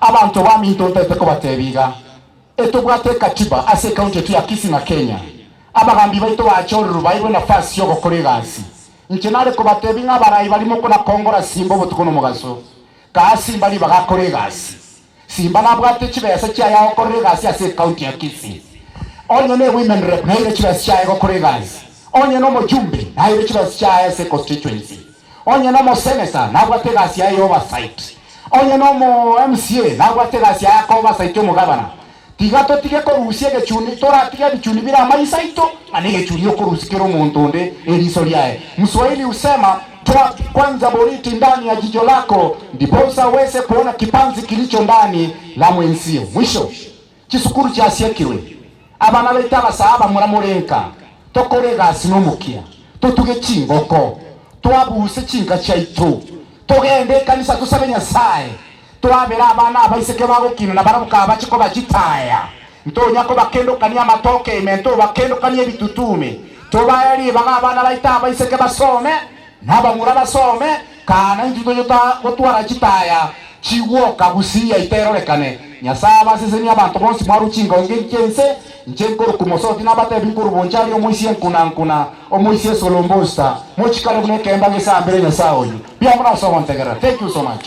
Abanto baminto ntaete kobateebia iga, etobwate ekatiba ase ecounty yaito ya Kisii na Kenya. Abagambi baito baacha ororo baeirwe enafasi y'ogokora egasi. Inche nare kobateebia ng'a abarai barimo konakongora simba obotuko nomogaso. Kaa simba ribaga akore egasi. Simba nabwate chibesa chiaye agokorera egasi ase ecounty ya Kisii. Onye ne women rep naeire chibesa chiaye gokora egasi. Onye nomochumbe naeire chibesa chiaye ase constituency. Onye nomoseneta nabwate egasi yaye ya oversight, onye nomo MCA nabwate egasi yaye aka oversight omogabana, tiga totige korusia egechuni, toratige ebichuni bire amaiso aito, ng'a negechuni okorusia kera omonto onde eriso riaye. Mswahili husema, toa kwanza boriti ndani ya jicho lako, ndiposa uweze kuona kipanzi kilicho ndani la mwenzio. Mwisho. Chisukuru chiasiekirwe, abana baito abasaa bamura morenka, tokora egasi nomokia, totuge chingoko, twabuse chinka chiaito, togende ekanisa tosabe Nyasae, twabere abana abaiseke bagokina na barabwo kabache kobachitaya, ntonya kobakendokania amatoke ime, ntobakendokanie ebitutume, tobae ribaga abana baito abaiseke basome, Nabamura basome, Kana intwe toyota gotwara chitaya chigwoka gusii yaito erorekane? Nyasae abasesenie abanto bonsi mwarwe chingongi chi'ense, inche nkorwa Kumosoti nabatebi nkorwa Bonchari omoisia enkuna nkuna, omoisia Esolombosta, mochikare buna ekemba gesambire Nyasae oyio. Mbuya mono ase ogontegerera. Thank you so much.